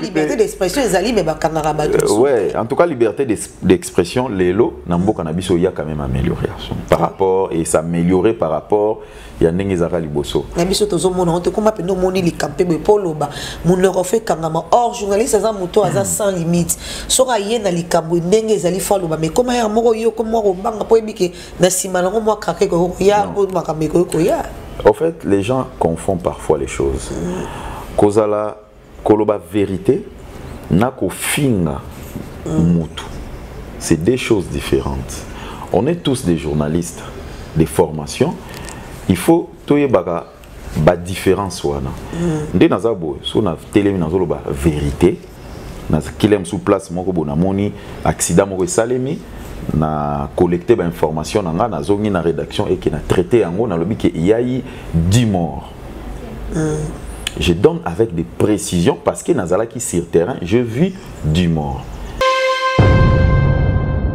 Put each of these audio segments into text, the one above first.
liberté d'expression ezali mais bakangaka bato euh, ouais en tout cas liberté d'expression lelo na mboka na biso ya quand même amélioré par rapport et s'améliorer par rapport ya ndenge ezalaka liboso na biso tozomona ote koma mpe nomoni likampe boye mpo oloba monoko fo ekangama or journaliste aza moto aza hmm. sans limite soki aye na likambo ndenge ezali fo aloba mais koma ya moko yo komwa kobanga mpo oyebike na nsima nango mwa kaka ekoki koya oyo makambo ekoki koya au fait les gens confondent parfois les choses kozala koloba vérité na kofinga mutu c'est deux choses différentes on est tous des journalistes des formations il faut toyebaka ba différence wana mm. nde naza boye so na telemi nazoloba vérité na kile mosusu place moko bo namoni accident moko esalemi na collecte bainformation na ngai nazongi na rédaction eke na traité yango nalobi ke eyai 10 morts mm. je donne avec des précisions parce que nazalaki sur terrain je vis 10 morts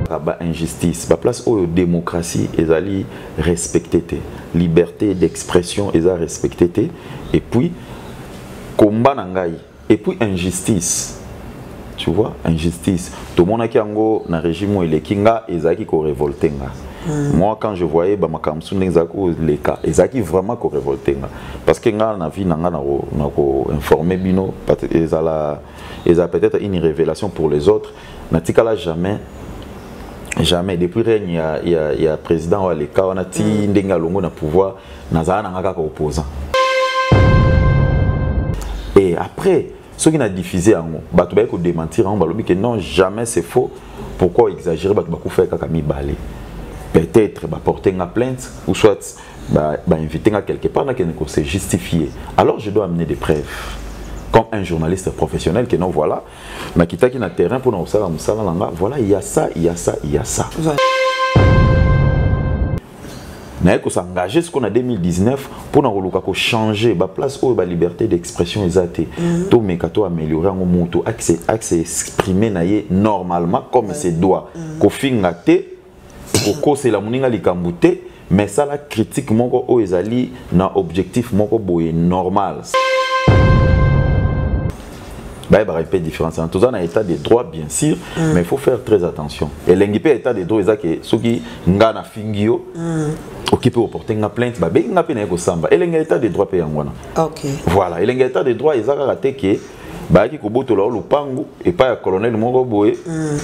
ba injustice ba place oyo démocratie ezali respecte te liberté d'expression eza respecte te et puis komba na ngai et puis injustice tu vois injustice tomonaki yango na régime oyo eleki nga ezalaki korevolte nga mm. moi quand je voyais bamakambo mosusu ndenge ezalaki koleka ezalaki vraiment korevolte nga parce que nga na vie na nga na koinforme bino ezala ezala peut-être une révélation pour les autres natikala jamais jamais depuis règne ya, ya, ya président oyo aleka wana ti mm. ndenge alongo na pouvoir nazala nanga kaka opposant et après soki na diffuse yango bato baye kodementir yango balobi ke non jamais c'est faux pourquoi exagérer bato bakufaki kaka mibale peut-être baporte nga plainte ou soit bainvite ba nga quelque part nakende kose justifier alors je dois amener des preuves comme un journaliste professionnel que non voilà nakitaki na terrain mpona kosala mosala na nga voilà ya sa ya sa ya sa naye kosengage sikoyo na 2019 mpona koluka kochange baplace oyo baliberté d'expression eza te mhm. tomeka to améliorer yango moto axe exprime na ye normalement comme se doit mhm. kofinga te kokosela moninga likambo te mais sala critique moko oyo ezali na objectif moko boye normal bayebaka mpe différence wana toza na état de droit bien sûr mm. mais il faut faire très attention elengi mpe état de droit eza ke soki nga na fingi yo mm. oki mpe oporte nga plainte babengi nga mpe naye kosamba elengi ya état de droit mpe yango wana okay. voilà elengi ya état de droit eza kaka te ke bayaki kobotola yo lopango epai ya colonel moko boye mm.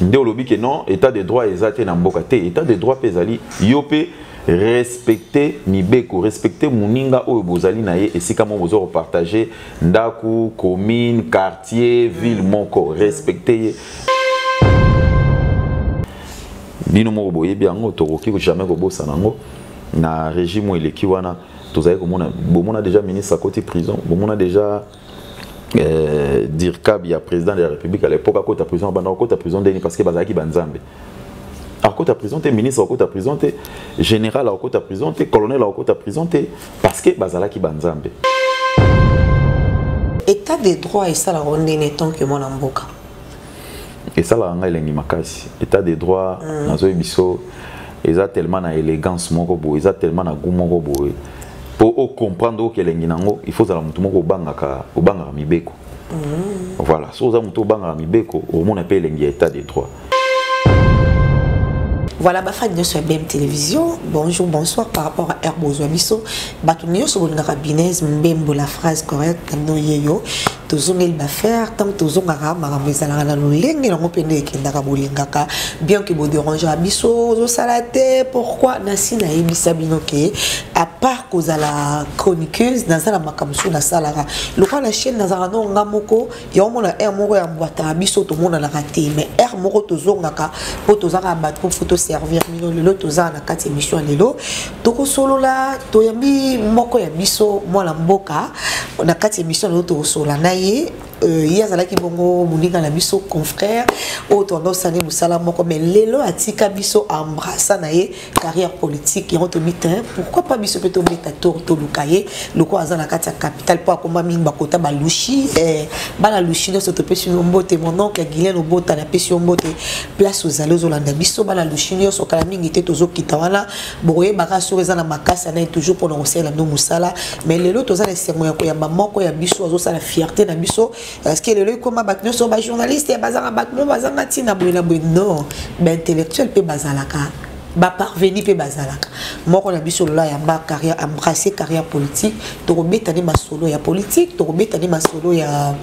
nde olobi ke non état de droit eza te na mboka te état de droit mpe ezali yo mpe respecte mibeko respecte moninga oyo bozali na ye esika moko boza kopartage ndako commune quartier ville moko respecte ye bino moko boyebi yango tokoki jamais kobosana yango na régime oyo eleki wana tozali komona bomona déjà ministre akoti prison bomona déjà euh, dircab ya président de la république à l'époque akota prison abanda kokota prison ndeni parce que bazalaki banzambe akota prison te ministre akota prison te général akota prison te colonel akota prison te parce que bazalaki banzambe état de droit esalaka ndeni tant que mwana mboka esalaka ngai elengi makasi état de droit mm. nazoyi biso eza tellement na élégance moko boye eza tellement na goût moko boye mpo ocomprendre oyo kelengi nango il faut ozala motu moko obangaka obangaka mibeko mm. voilà soki oza motu obangaka mibeko omona mpe elengi ya état de droit voilà bafani nyonso ya bm télévision bonjour bonsoir par rapport à herbe ozwa biso bato nyonso bolingaka binese mbembo la phrase correcte noyeyo tozongeli bafaire ntango tozongaka makambo ezalaka na lolenge yango mpe nde ekendaka bolingaka bien ke boderangera biso ozosala te pourkui nasi nayebisa bino ke apart kozala chroniqueuse naza na makambo mosusu nasalaka lokola na chaine nazalaka nao nga moko yango mona aire moko ya mbwataka biso tomonanaka te mais aire moko tozongaka mpo tozaka bato mpo toservir bino lelo tozala na kati ya émission ya lelo tokosolola toyambi moko ya biso mwana mboka na kati ya emission na yo tokosolola na ye euh, ye azalaki bongo moninga na biso confrère oyo toanda osani mosala moko mais lelo atika biso embrassa na ye carrière politique yango tobi te pourquoi pas biso mpe tobeta tour toluka ye lokola aza na kati ya capital mpo akoma mingi bakota balushi eh, bana lushi nyonso topesi yo mbote mon oncle guilen obota napesi yo mbote place ozali ozolanda biso bana lushi nyonso kala mingi te tozokita wana bokoyebaka soki eza na makasi anaye toujours mpona kosalela bino mosala mais lelo toza na esengo ya koyamba moko ya biso azosala fierté na biso parceke lelo ekoma bato nyonso bajournaliste bazanga bato mo bazanga ntina boye na boye non baintellectuel mpe bazalaka baparveni mpe bazalaka moko na biso lola yamba carrière embrasse carrière politique tokobeta nde masolo ya politique tokobeta nde masolo ya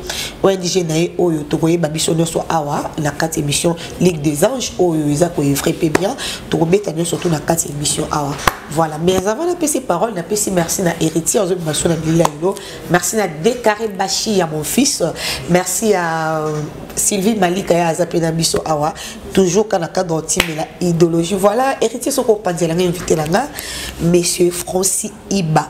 ong na ye oyo tokoyeba biso nyonso awa na kati émission Ligue des Anges oyo eza ko evre pe bien tokobeta nyoso to na kati émission awa voilà mais avant na pesi parole na pesi merci na héritier ozo bimaso na bilila lelo merci na décarré bashi ya mon fils merci à euh, Sylvie Malika ya aza pe na biso awa toujours kana cadre otime la idéologie voilà héritier soko panzela nga invité la nga monsieur Francis Iba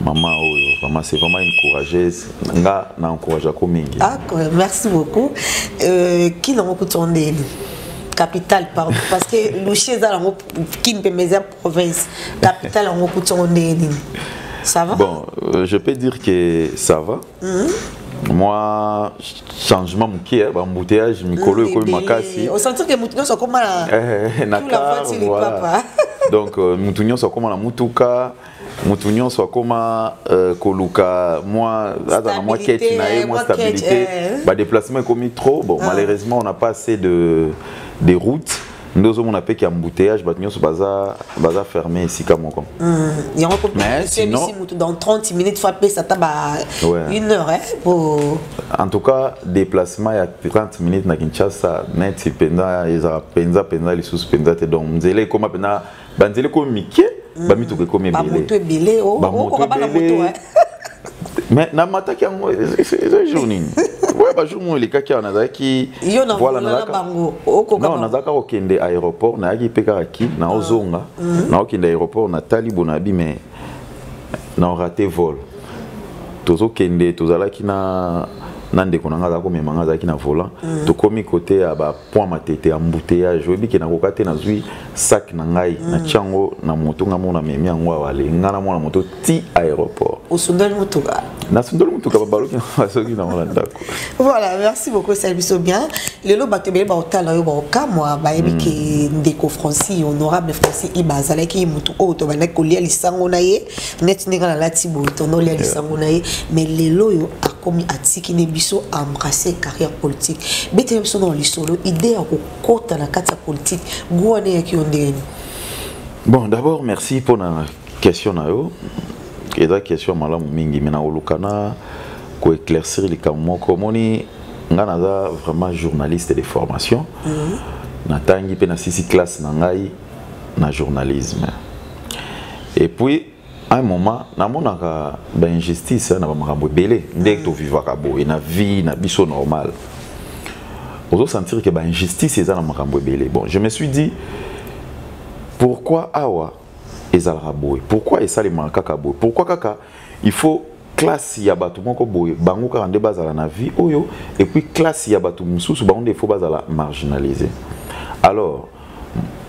Maman Oyo, vraiment, c'est vraiment une courageuse. Nga, na encourage à mingi. Ah, merci beaucoup. Euh, qui n'a beaucoup tourné Capital, pardon. Parce que Louché, qui ne peut mes province. Capital, on beaucoup tourné. Ça va Bon, euh, je peux dire que ça va. Mm -hmm. moi changement moke bambouteillage mikolo ekomi makasi osentirke motu nyonso akoma na kar voilà donc motu nyonso akoma na motuka moto nyonso akoma euh, koluka mwa aza na mwa keti na ye mwa stabilité eh. badeplacement ekomi trop bon ah. malheureusement on n'a pas assez de, de routes nde ozomona mpe ki embouteillage bato nyonso baza, baza ferme esika moko hmm, yango mposi moto dans 30 minutes fo apesa ata ba une heure eh, po en tout cas déplacement ya 30 minutes na kinshasa neti mpenza ezala mpenza mpenza lisusu mpenza te donc nzela ekoma mpenza banzela ekomi mike mm. bamituka ekomi ebelebamoto ebele oh, oh, bana moto mais namataki yango eza jour nini oyo bajour moko elekaki awa nazalaki nazalaka kokende aéroport nayaki mpe kaka ki naozonga ah. mhm. naokende aéroport natali bonabi mais naorate vol tozokende tozalaki na na ndeko na ngai azalaki komema ngai azalaki na volant mhm. tokomi kote ya point matete embouteillage oyebi ke nakoka te nazwi sac na ngai mm. natya yango na moto ngai mona memi yango awale ngai na mwana moto ti aéroport osundoli motuka nasundoli motuka babaloki basoki nango na ndako voilà merci beaucoup esali biso bien lelo bato ebele baotala yo baokamwa bayebi mm. ke ndeko francis honorable francis iba azalaki motu oyo tobandaki kolia lisango na ye neti ndenge nalati boye tondoli ya lisango na ye mais lelo oyo akomi atiki nde biso embrasse carrière politique betela biso na lisolo idée ya kokota na kati ya politique go wana eyaki yo ndenge nini bon d'abord merci mpo na question na yo eza question malamu mingi me nakoluka na koéclaircir likambo moko omoni ngai naza vraiment journaliste de formation mm -hmm. natangi mpe nasisi classe na ngai na journalisme et puis à un moment namonaka ba injustice na ba makambo ebele nde to vivaka boye na vie na biso normal ozo sentir que ba injustice eza na makambo ebele bon je me suis dit pourquoi awa ezalaka boye pourquoi esalemaka kaka boye pourquoi kaka il faut classe ya bato moko boye bango kaka nde bazala na vie oyo et puis classe ya bato mosusu bango nde il faut bazala marginalise alors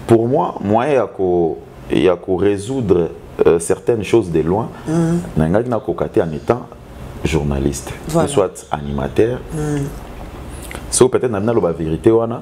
pour moi moyen ya ko ya ko résoudre euh, certaines choses de loin mm -hmm. nangaki nakoka te en étant journaliste voilà. soit animateur mm -hmm. so peut-être na bino aloba vérité wana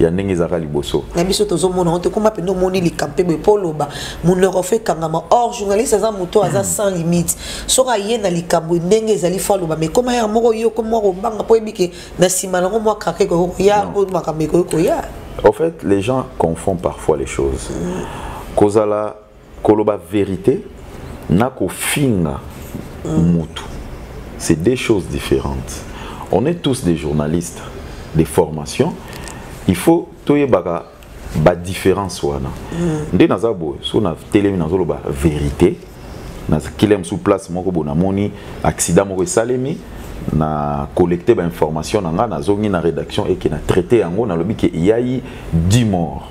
ya ndenge ezalaka liboso na biso tozomona yango tokoma mpenza omoni likampe boye mpo oloba monoko fo ekangama or journaliste aza moto aza hmm. sans limite soki aye na likambo ndenge ezali fo aloba mai koma yaka moko yo komwa kobanga mpo yebi ke na nsima nango mwa kaka ekoki koya mpo makambo ekoki koya au fait les gens confondent parfois les choses hmm. kozala koloba verite na kofinga mutu c'est deux choses différentes on est tous des journalistes de formation il faut toyebaka badifference wana mm. nde naza boye so na telemi nazoloba verité nakili ya mosusu place moko bo namoni accident moko esalemi na collecte bainformation na ngai nazongi na rédaction eke na traité yango nalobi ke eyai 10 mort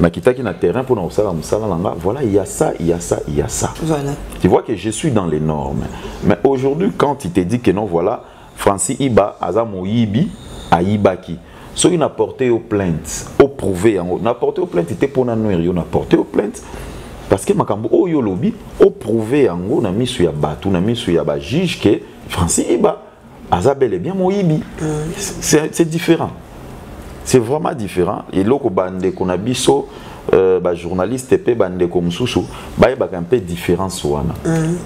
na kitaki na terrain pour na osala musala na nga voilà il y a ça il y a ça il y a ça voilà tu vois que je suis dans les normes mais aujourd'hui quand il te dit que non voilà Francis Iba aza moyibi ayibaki soki na porter aux plaintes au prouver yango na porter aux plaintes te pona noir yo na porter aux plaintes parce que makambo oyo lobi au prouver yango na misu ya batu na misu ya ba juge que Francis Iba aza bel et bien moyibi c'est différent c'est vraiment différent eloko bandeko na biso euh, bajournaliste mpe bandeko mosusu bayebaka mpe différence wana mm.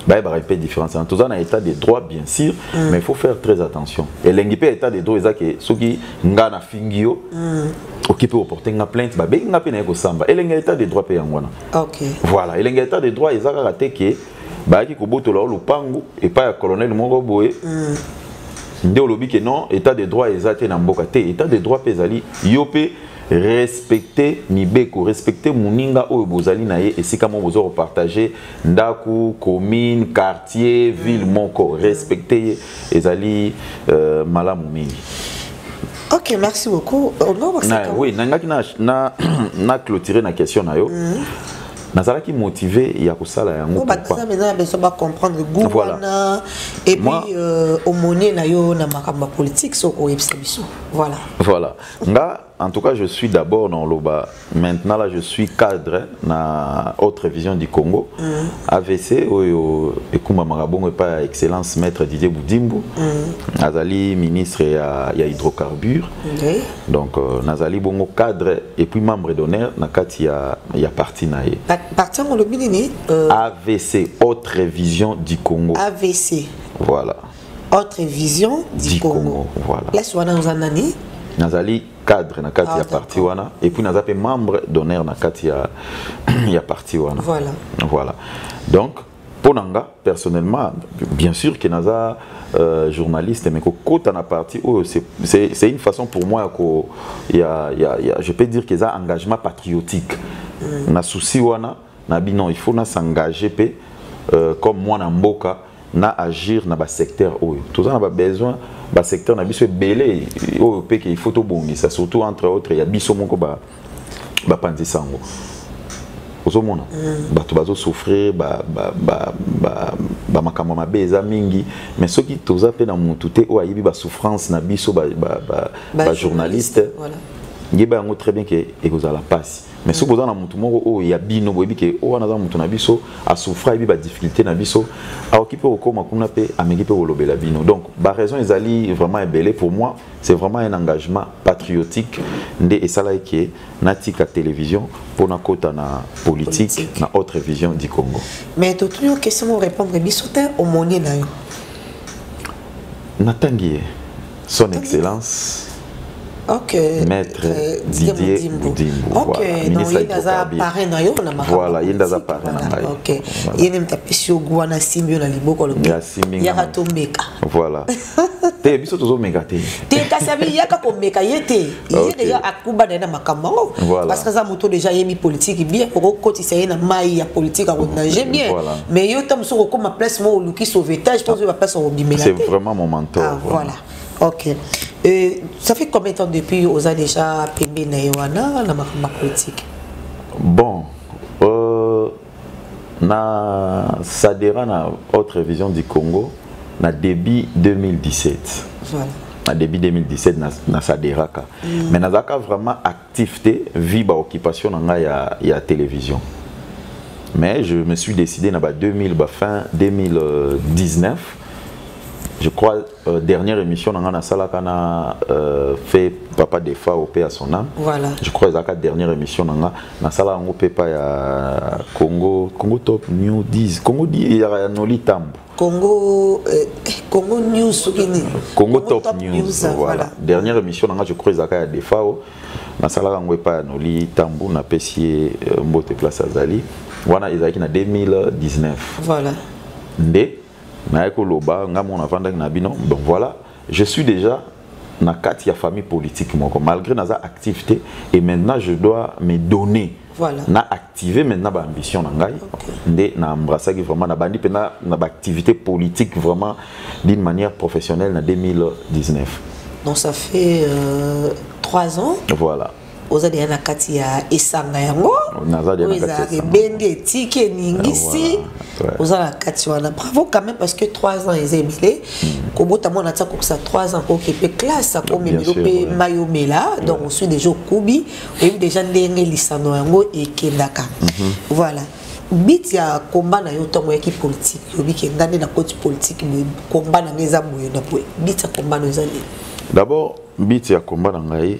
bayebaka mpe différence wana toza na état de droit bien sûr mm. mais il faut faire très attention elengi mpe état de droit eza ke soki nga na fingi yo mm. oki mpe oporte nga plainte babengi nga mpe naye kosamba elengi ya état de droit mpe yango wana okay. voilà elengi ya état de droit eza kaka te ke bayaki kobotola yo lopango epai ya colonel moko boye mm. nde olobi ke non état de droit eza te na mboka te état de droit mpe ezali yo mpe respecte mibeko respecte moninga oyo bozali na ye esika moko boza kopartage ndako commune quartier ville moko respecte ye ezali euh, malamu mingi ok merci beaucoup euh, oui nangaki na, na, na clôturer na question na yo mm -hmm. nazalaki motive ya kosala yango baza mpenza besoin bacomprendre gu wana et puis euh, omonie na yo na makambo ya politique soki oyebisa biso voilà voilà nga en tout cas je suis d'abord na oloba maintenant là je suis cadre na autre vision du congo mm. avc oyo ekumbamaka bongo epai ya excellence maître didier budimbu mm. azali ministre ya, ya hydrocarbure okay. donc euh, nazali bongo cadre et puis membre d'honneur na kati ya, ya parti na ye parti yango olobi nini euh... avc autre vision du congo avc voilà autre vision du, du congo. congo voilà place wana oza nani nazali cadre na kati ah, ya parti wana et puis naza mpe membre d'honneur na kati ya, ya parti wana voilà. voilà donc mpo na nga personnellement bien sûr que naza euh, journaliste mais kokota na parti oyo c'est une façon pour moi ya ko ya, ya, ya, je peux dire que eza engagement patriotique mm. na souci wana na bi non il faut na s'engager mpe euh, comme mwana mboka na agir na basecteur oyo toza na babesoin basecteur na biso ebele oyo mpe ke il faut tobongisa surtout entre autres ya biso moko ba bapanzi sango ozomona mm. bato bazosouffrir bamakambo mabe eza mingi mais soki toza mpe na motu te oyo ayebi basouffrance na biso bajournaliste ba, ba, ba, ba yeba yango très bien ke ekozala mpasi mais soki boza na motu moko oyo ya bino boyebi ke oyo wana aza motu na biso asouffra yebi badifficulté na biso aoki mpe kokóma kuna mpe ameki mpe kolobela bino donc baraison ezali vraiment ebele pour moi c'est vraiment un engagement patriotique nde esalaki ke natika télévision mpo nakota na politique, politique na autre vision du congo mais totuni yo question mo répondre biso te omoni na yo natangi ye son Tangi. excellence Okay. maître euh, didier mudimbu okay. voilà. ministre ya hydrocarbure na yo na makambo voilà ye nde aza pare na ngai okay. voilà. ye nde moto apesi yo gwa na simbi yo na liboko lobi yaka tombeka voilà te biso tozomeka te te kasi abi yaka komeka ye te ye deja akuba na ye na makambo yango parce que aza moto deja ayebi politike bien okokotisa ye na mai ya politike akonage bien mais yo ta mosusu okokoma place moko oluki sauvetage to ozoyeba place okobimela te vraiment mon mentor ah, voilà ok euh, ça fait combien de temps depuis oza déjà pembe na ye wana na makambo ya politike bon na sadera na haute révision du congo na début 2017 voilà. na début 2017 na, na saderaka mm. mais nazalaka vraiment actif te vi baoccupation na ngai ya, ya télévision mais je me suis décidé na ba 2000 ba fin 2019 je crois Euh, dernière émission nanga na salaka na euh, fait papa defa au paix à son âme voilà je crois ezaka dernière émission nanga na sala yango pe pa ya Congo Congo top new 10 Congo di ya Noli Tambo Congo euh, Congo news soki nini Congo, Congo top, top news, news voilà. voilà dernière émission nanga je crois ezaka ya defa au na sala yango epa ya Noli Tambo na pesi ye euh, mbote place azali wana ezalaki na 2019 voilà nde naye koloba nga moko navandaki na bino donc voilà je suis déjà na kati ya famille politique moko malgré naza actif te et maintenant je dois me donner voilà. na activer maintenant ba ambition na ngai okay. nde na embrassaki vraiment na bandi pena na ba activité politique vraiment d'une manière professionnelle na 2019 donc ça fait euh, 3 ans voilà oza deya na kati ya esanga yango oyo ezalaka ebendi etiki eningisi ah, oza na kati wana bravo quand même parce que 3 ans eza ebele hmm. kobota mwana tia kokisa 3 ans koki mpe classe akomemelo mpe mai omela donc osui déjà okubi oyebi déjà ndenge lisano yango ekendaka mhm. voilà bit ya komba na yo ntango oyaki politike oyebi ke ngai nde na koti politike boye komba na ngai eza boye na boye bit ya komba na yo eza nini d'abord bit ya komba na ngai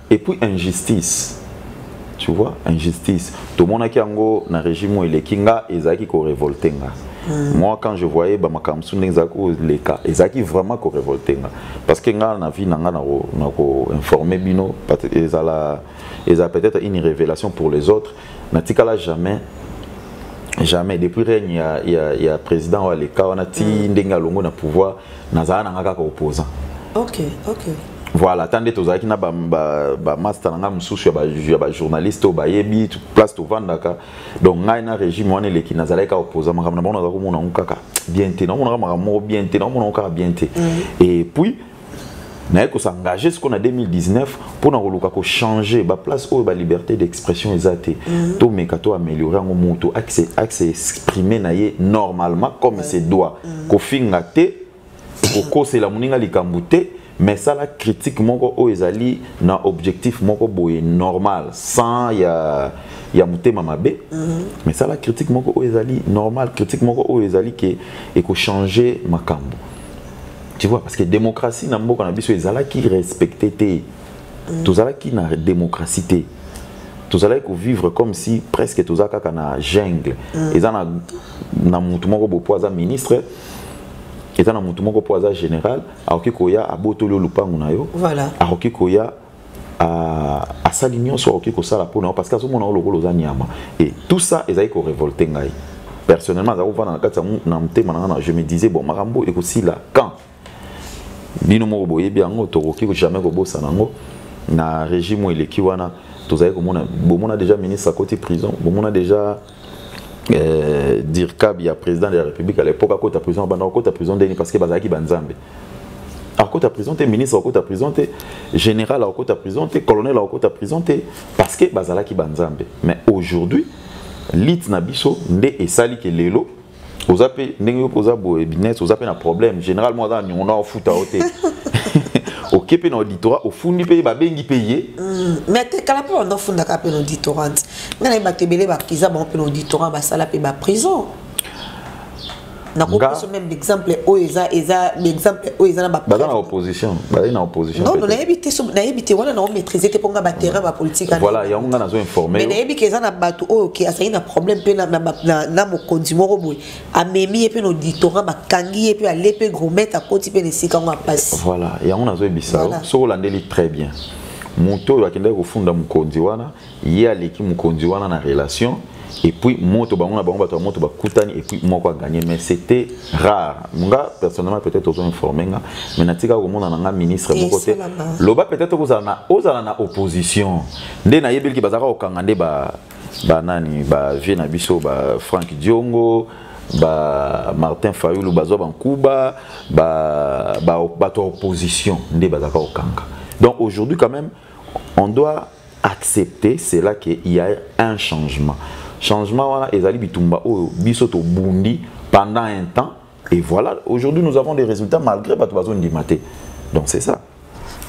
et puis injustice tu vois injustice tomonaki yango na régime oyo eleki nga ezalaki korevolte nga mm. moi quand je voyais bamakambo mosusu ndenge ezalaki koleka ezalaki vraiment korevolte nga parce que nga na vie na nga na koinforme bino ezala eza peut-être une révélation pour les autres natikala jamais jamais depuis règne ya, ya, ya président oyo aleka wana ti mm. ndenge alongo na pouvoir nazala na nga kaka opposant ok ok voilà ata nde tozalaki na bamaster na ngai mosusu ya bajournaliste oyo bayebi place tovandaka donc ngai na régime wana eleki nazalaki kaka opposa makambo na bango naza komona yango kaka bien te naomonaka makambo moko bien te naomonaka kaka bien te mm. et puis naye ko s'engager siko na 2019 mpona koluka ko changer ba place oyo ba liberté d'expression eza te mm. to meka to améliorer yango moto axe axe exprimer na ye normalement comme se doit mm. kofinga te kokosela moninga likambo te mais sala critique moko oyo ezali na objectif moko boye normal sans ya ya motema mabe mm -hmm. mais sala critique moko oyo ezali normal critique moko oyo ezali ke ekochanger makambo tu vois parce que démocratie na mboka na biso ezalaki respecté te mm. tozalaki na démocratie te tozalaki kovivre comme si presque toza kaka na jungle mm. eza na, na motu moko bopo aza ministre eza na motu moko mpo aza général akoki koya abotoli yo lopango na yo voilà. akoki koya Ah, asali nyonso akoki kosala mpo na yo parce que azomona yo lokola oza nyama et tout ça ezali korevolte ngai personnellement azali kovanda na kati ya na motema na ngai na je me disais bon makambo ekosila quand bino moko boyebi yango tokoki jamais kobosana yango na régime oyo eleki wana tozali komona bomona déjà ministre akoti prison bomona déjà euh, dircab ya président de la république à l'époque akota prison banda akota prison ndeni parce que bazalaki banzambe akota prison te ministre akota prison te général akota prison te colonel akota prison te parce que bazalaki banzambe mais aujourd'hui lite na biso nde esali ke lelo oza pe ndenge yo oza boye business oza pe na problème généralement aza na niongo na ofuta yo te oke mpe na auditorat ofundi mpe babengi mpe ye mm, mais tekala mpe banda ofundaka mpe na auditorat ngai naye bato ebele bakiza bango mpe na auditorat basala mpe baprison nakopesa meme baexemple oyo eza eza baexemple oyo eza na babaza na opposition bazali na opposition nayebi te nayebi te wana na maîtriser te ponga ba terrain ba politique voilà yango nga nazo informer mais nayebi que eza na bato oyo ke azali na problème pe na na na, na mokonzi moko boye amemi ye pe na auditorat bakangi ye pe ale pe gromete akoti pe na esika yango apasi voilà yango nazo yebisa yo soki olandeli très bien moto oyo akendaki kofunda mokonzi wana ye aleki mokonzi wana na relation et puis moto bango na bango bato ya moto bakutani et puis moko aganye mais c'était rare nga personnellement peut-être ozo informe nga mais natika komona na nga ministre moko te loba peut-être okozala na ozala na opposition nde nayebeliki bazalaka kokanga nde ba banani ba vie na biso ba Frank Diongo ba Martin Fayulu bazwa bankuba ba bato ba, ba, opposition nde bazalaka kokanga donc aujourd'hui quand même on doit accepter cela que il y a un changement changement wana ezali bitumba oyo biso tobundi pendant un temps et voilà aujourd'hui nous avons des résultats malgré bato bazondima te donc c'est ça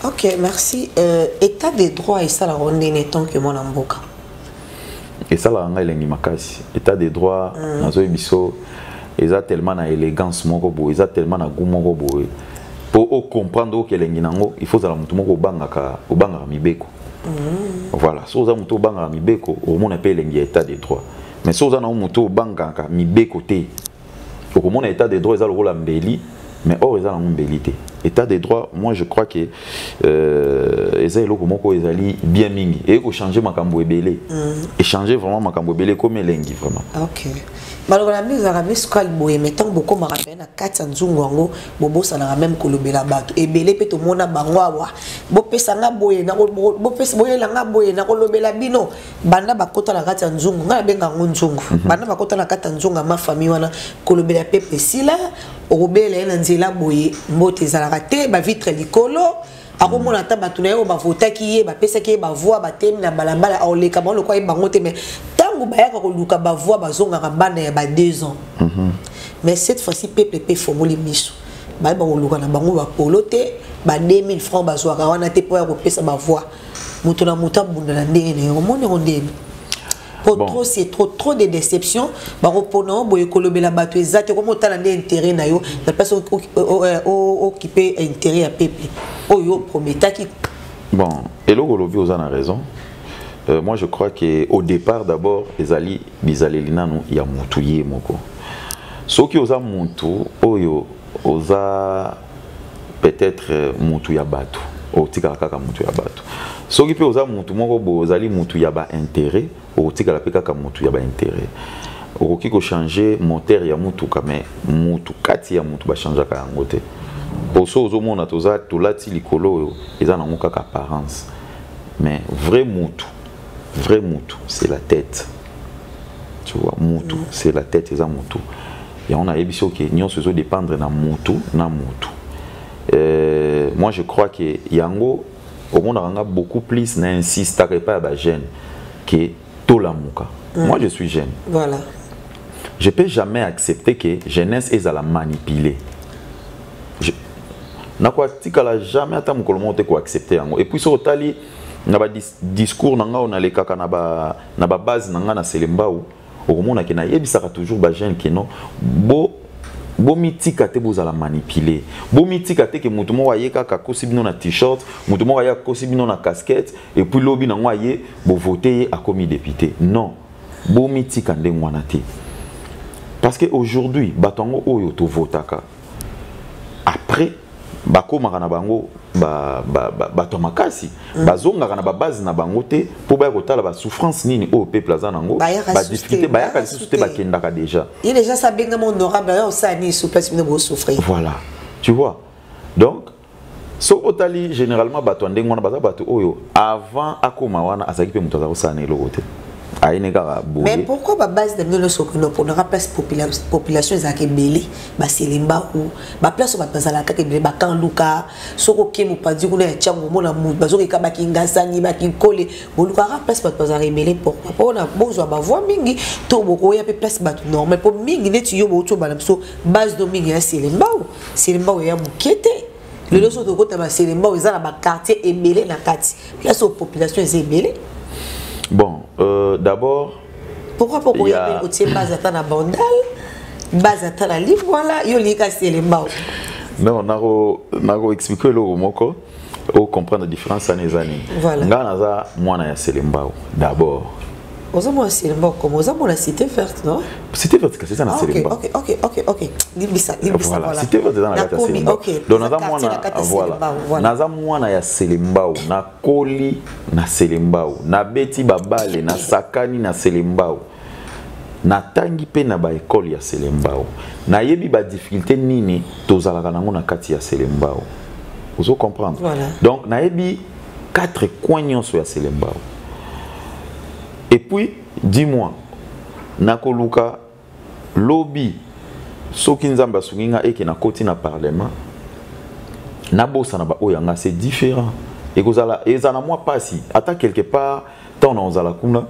ok merci euh, état de droit esalaka ndene tant que mwana mboka esalaka ngai elengi makasi état de droit mm. nazoyebi biso eza tellement na élégance moko boye eza tellement na goût moko boye po o comprendre oke elengi nango il faut zala mutu moko obangaka obangaka mibeko mm. voilà so oza mutu obangaka mibeko okomona pe elengi ya état de droit mais so oza nango mutu obangaka mibeko te okomona état de droit eza lokola mbeli mais or eza nango mbeli te état de droit moi je crois que euh, eza eloko moko ezali bien mingi eye kochange makambo ebele mm. echange vraiment makambo ebele ekomi elengi vraiment okay. maloba na bino ezalaka misukali boye mai ntango bokomaka mpe na kati ya nzungu yango bobosanaka meme kolobela bato ebele mpe tomona bango awa bopesa nga boye boyela nga boye nakolobela bino banda bakota na kati ya nzungu ngai nabenga yango nzungu mhm. banda bakota na kati ya nzungu ya mafamille wana kolobela pepe esila okobela ye na nzela boye mbote ezalaka te bavitre likolo akomona ata bato na ye oyo bavotaki ye bapesaki ye bavoi batemi na balabala aoleka bango lokola ye bango te mai ntango bayaka koluka bavoi bazongaka banda ya ba deux ans mhm. mais cette fois-ci peuple mpe efongoli miso baye bakoluka na bango bapolo te ba 2000 francs bazwaka wana te mpo ya kopesa bavoi moto na moto abunda na ndenge na ye omoni yango ndeni po bon. trop c'est trop trop de déception bakopona o boye kolobela bato eza te okoma otala nde intérêt na yo na place okipe euh, intérêt ya peuple oyo oprometaki bon eloko olobi oza na raison euh, moi je crois que au départ d'abord ezali bizaleli nanu ya mutu ye moko soki oza mutu oyo oza peut-être euh, mutu ya batu otikala kaka mutu ya batu soki mpe oza mutu moko boye ozali mutu ya ba intérêt okotikala mpe kaka mutu ya ba intérêt okoki kochanger moteur ya mutuka mais mutu kati ya mutu bachangeaka yango te mpo so ozomona toza tolati likolo oyo eza nango kaka apparence mais vrai mutu vrai mutu c'est la tête tu vois mutu mm. c'est la tête eza mutu yango nayebi so ke nyonso ezo dépendre na mutu na mutu euh, moi je crois que yango omonaka nga beaucoup plus na insistaka epai ya bajeune ke tolamuka mm. moi je suis jeune voilà je peux jamais accepter que jeunesse ezala manipuler nakotikala jamais ata mokolo moko te koaccepte yango epuis soki otali na discours na ngai nalekaka na ba na ba base na ngai na Selembao okomona ke nayebisaka toujours ba jeune ke non bo bomitika te bozala manipule bomitika te ke moto moko aye kaka akosi bino na t-shirt moto moko aye akosi bino na casquette epuis lobi nango aye bovote ye akomi depute non bomitika ndenge wana te parce que aujourd'hui bato yango oyo tovotaka après bakomaka na bango bato ya makasi mm. bazongaka na babase na bango te mpo baya kotala basouffrance nini oyo peuple aza na yango badifficulté bayaka lisusu te bakendaka déjà ye déjà sa abengama honorable ayo osala nini souplasi bino bosouffrir voilà tu vois donc so otali généralement bato ya ndenge wana baza bato oyo avant akoma wana azalaki mpe moto aza kosala na eloko te ayini kaka boye mais pourquoi ba base na bino nyonso okende oponaka place population ezalaka ebele baselemba o baplace bato bazalaka kaka ebele bakanduka soki oke mopanzi kuna ya ntiango omona moto bazokeka bakingasani bakinkole bolukaka place bato bazalaka ebele pourquoi mpona bozwa bavoi mingi to bokoya mpe place bato normal mpo mingi neti yo bouti obana biso base no mingi ya selembao selembao ya moke te lelo soki tokota baselembao eza na baquartier ebele na kati place oyo population eza ebele bon euh, d'abord pourquoi po koya otie base ata na bandal base ata na libwala yo olingika selembao non nakoexplike eloko moko ocomprendre différence wana eza nini ngai naza mwana ya selembao d'abord ozo mona selemba okoma oza mona cité verte no cité verte kasi eza na ah, selemba ok ok ok ok limbisa limbisa voilà cité verte eza na kati ya selemba donc naza mwana voilà naza mwana ya selembao nakoli na selembao nabeti babale nasakani na selembao natangi mpe na baekole ya selembao nayebi badifficulté nini tozalaka nango na kati ya selembao ozo comprendre voilà. donc nayebi quatre coin nyonso ya selembao et puis dis moi nakoluka lobi soki nzambe asungi nga eke nakoti na parlement nabosana baoyo yanga c'est différent ekozala ezala mwa mpasi ata quelque part ntango na ozala kuna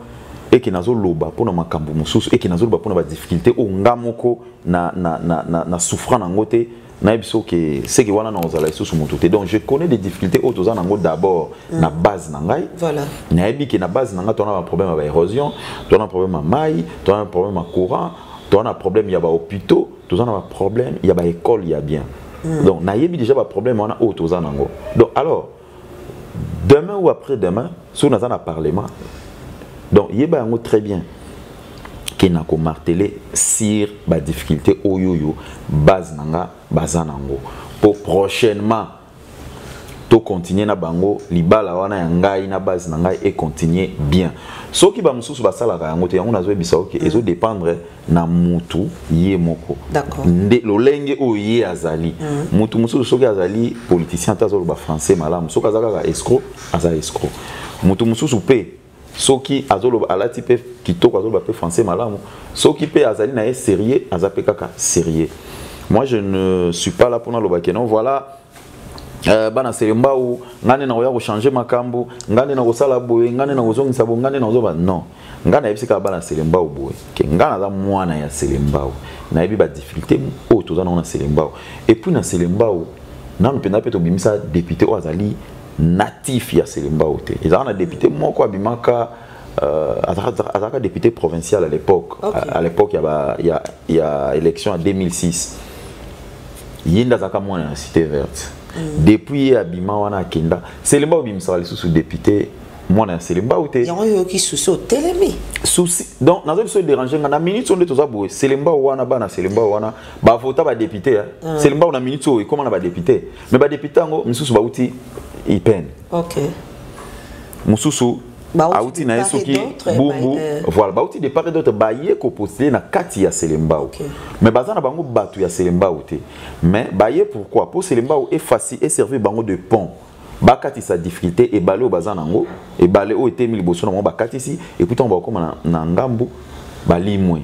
eke nazoloba mpo na makambo mosusu eke nazoloba mpo na badifficulté oyo nga moko na, na, na, na, na souffrant nango te nayebi so ke seke wana nakozala lisusu motu te donc je connais des difficultés oyo toza nango d'abord mm. na base na ngai voilà. nayebi ke na base na ngai toana baproblème ya baérosion toana problème ya mai toana problème ya courant toana problème ya bahôpitaux toza na baproblème ya baécole ya bien mm. donc nayebi déjà baproblème wana oyo toza nango donc alors demain ou après demain soki naza na parlement donc yeba yango très bien ke na komartele sur badifficulté oyo oyo base na nga baza nango mpo prochainement tokontinue na bango libala wana ya ngai na base na ngai ekontinue bien soki bamosusu basalaka yango te yango nazoyebisa oke okay, ezodépendre na mutu ye moko nde lolenge oyo ye azali mm. mutu mosusu soki azali politicien ata azoloba français malamu soki aza kaka escro aza escro mutu mosusu mpe soki azoloba alati mpe kitoko azoloba mpe français malamu soki mpe azali na ye sérieux aza mpe kaka sérieux moi je ne suis pas là mpona loba ke non voilà Euh, bana selembau ngai nde nakoya kochange makambo ngai nde nakosala boye ngai nde nakozongisa boye ngai nde nakozoba non ngai nayebisi kaka bana selembau boye ke ngai naza mwana ya selembau nayebi badifficulté oyo toza nango na selembau epuis na selembau nanu mpenza mpe tobimisa depute oyo azali natif ya selembau te ezalaka na depute moko abimaka euh, azalaka depute provincial à l'époque okay. à l'époque ya, ya, ya élection ya 2006 ye nde azalaka mwana ya cité verte mm. depuis ye abima wana akenda selemba obimisaka lisusu député mwana ya selemba ou te yango oyoki susi otelemi susi donc naza biso dérange nga na minute oyo nde toza boye selemba wana bana selemba wana bavota badepute ya mm. selemba oyo na minute oyo ekóma na badepute mais badepute yango misusu bauti ipene okay. mosusu auti na ye soki bumbu euh. voilà bauti de part et d'autre baye kopostele na kati ya selembao okay. mais baza na bango bato ya selembao te mais baye pourquoi mpo selembao efasi eservir bango de pont bakatisa difficulté ebale oyo baza nango ebale oyo etemi liboso na bango bakatisi epuis ntango bakokoma na, na ngambu balimwe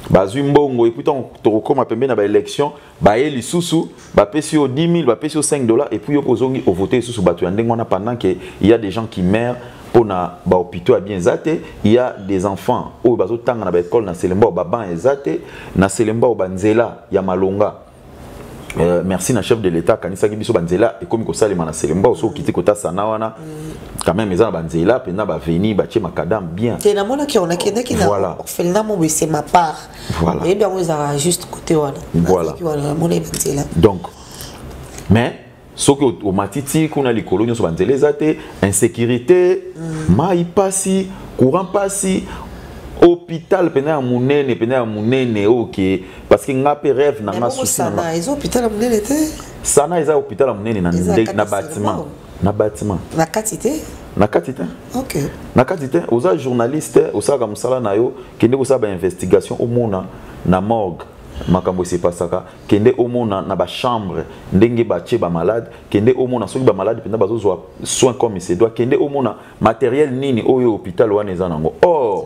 bazwi mbongo epuis ntango tokokoma pembeni na baélection baye lisusu bapesi yo 10 000 bapesi yo 5 dollars epuis yo mpe ozongi ovote lisusu bato ya ndenge wana pendant que ya des gens qui meurent mpo na bahopitaux ya bien eza te ya des enfants oyo bazotanga na baekole na selembao baban eza te na selembao banzela ya malonga Euh, merci na chef de l'état akanisaki biso banzela ekomi kosalema na selembao soki okiti kota sana wana quand même eza na banzela mpenza baveni batie makadame bien te namonaki onakendaki na orphelinat mobo esema part voilà oyebi yango ezalaka juste côté wana voilà wana namona ebi nzela donc mais soki omatiti kuna likolo nyonso banzela eza te insécurité mm. mai mpasi courant mpasi hôpital pena ya monene pena ya monene oke parce que nga mpe rêve na nga souci na nga eza hôpital ya monene te sana eza hôpital ya monene na, na bâtiment na bâtiment na kati te na kati te ok na kati te oza journaliste osalaka mosala na yo kende kosala ba investigation omona na morgue makambo esepasaka kende omona na bachambre ndenge batie bamalade kende omona soki bamalade mpenza bazozwa soin comme se doit kende omona materiel nini oyo hôpital wana eza nango or